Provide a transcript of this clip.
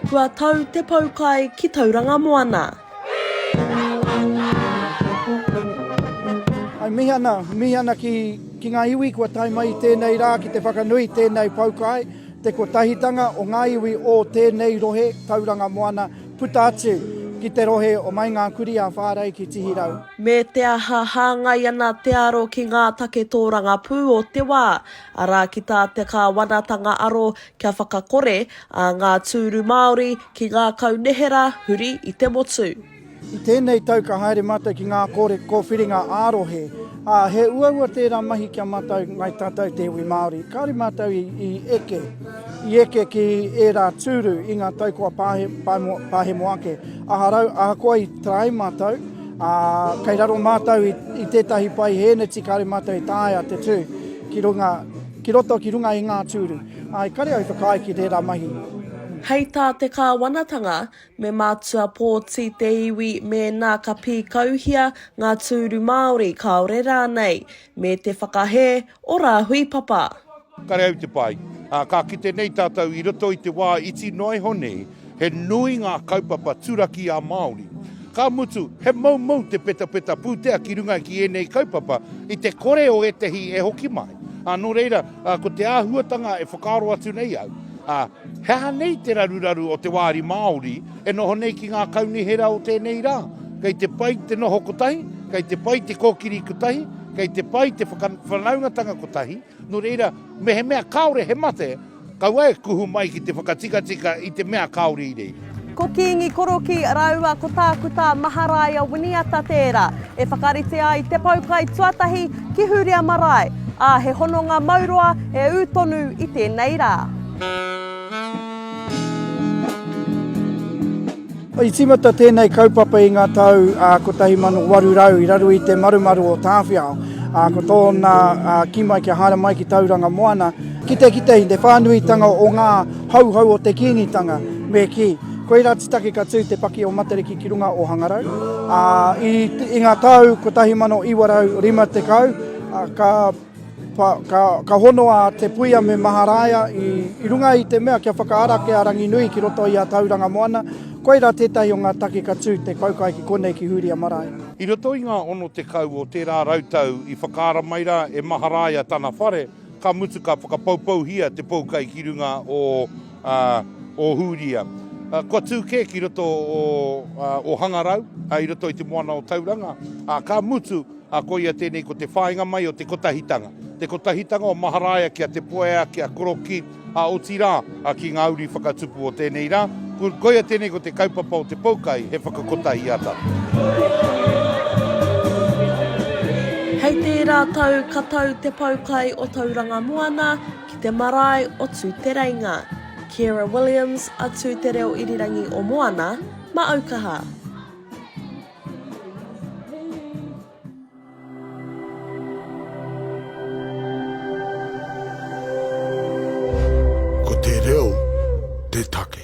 Kua tau te poukai ki Tauranga Moana. I mihi ana, mihi ana ki, ki ngā iwi kua tae mai i tēnei rā ki te whakanui i tēnei poukai, te kotahitanga o ngā iwi o tēnei rohe, Tauranga Moana, puta atu ki te rohe o Mai Ngā Kuri a Whārei ki Tihirau. Me te aha hāngai ana te aro ki ngā take tōrangapū o te wā, arā ki tā te Kāwanatanga aro kia whakakore ā ngā tūru Māori ki ngā kaunihera huri i te motu. I tēnei tau ka haere mātou ki ngā kore kōwhiringa ā-rohe, ā, he uaua tērā mahi kia mātou ngai tatau te iwi Māori, kāore mātou i eke. I eke ki ērā tūru i ngā tau kua pahemo ake. Aharau, ahakoa i tae mātou, ā, kei raro mātou i tētahi pae hēneti kāore mātou e taea te tū ki runga, ki roto, ki runga i ngā tūru. Ā, i kare au i whakaae ki tērā mahi. Hei tā te kāwanatanga, me mātua pōti te iwi mēnā ka pīkauhia ngā tūru Māori kāore rānei Me te whakahē o Rāhui Papa. Kareau te pai. Ā, ka kite nei tātou i roto i te wā iti noa iho nei, he nui ngā kaupapa turaki ā-Māori. Ka mutu, he moumou te petapeta pūtea ki runga ki ēnei kaupapa i te kore o ētehi e hoki mai. Ā, nō reira, ko te āhuatanga e whakaaro atu nei au, ā, He aha nei te raruraru o te wāri Māori e noho nei ki ngā kaunihera o tēnei rā? Kei te pai te noho kotahi, kei te pai te kōkiri kotahi, kei te pai te whakawhanaungatanga kotahi, nō reira, mehemea kāore he mate, kaua e kuhu mai ki te whakatikatika i te mea kāore i rei. Ko Kīngi Korokī rāua ko Tākuta Maharaia Winiata tērā e whakaritea ai te poukai tuatahi ki Hūria Marae, ā, he hononga mauroa e ū tonu i tēnei rā. I tīmata tēnei kaupapa i ngā tau 1800 i raro i te marumaru o Tāwhiao, ā, ko tōna kī mai kia haere mai ki Tauranga Moana, kitekite i te whānuitanga o ngā. Hauhau o te Kīngitanga, me kī, koirā te take ka tū te paki o Matariki ki runga o Hangarau. Ā, i, i ngā tau 1950, ā, ka, pa, ka, ka honoa te puia me Maharaia i, i runga i te mea kia whakaarake a Ranginui ki roto i a Tauranga Moana, koirā tētahi o ngā take ka tū te kaukai ki konei ki Hūria Marae. I roto i ngā 60 o tērā rautau i whakaara mai rā e Maharaia tana whare, Ka mutu ka whakapoupouhia te poukai ki runga o Ohūria. Kua tū kē ki roto o Ohangarau, i roto i te moana o Tauranga, ā, ka mutu, ā, koia tēnei ko te whāinga mai o te kotahitanga. Te kotahitanga o Maharaia ki a Te Poea, ki a Koroki, ā, otirā, ki ngā uri whakatupu o tēnei rā, koia tēnei ko te kaupapa o te poukai, he whakakotahiata. Hei tērā tau ka tau te poukai o Tauranga Moana ki te marae o Tūtereinga. Ciara Williams, a Tū Te Reo Irirangi o Moana, ma Aukaha. Ko te reo te take.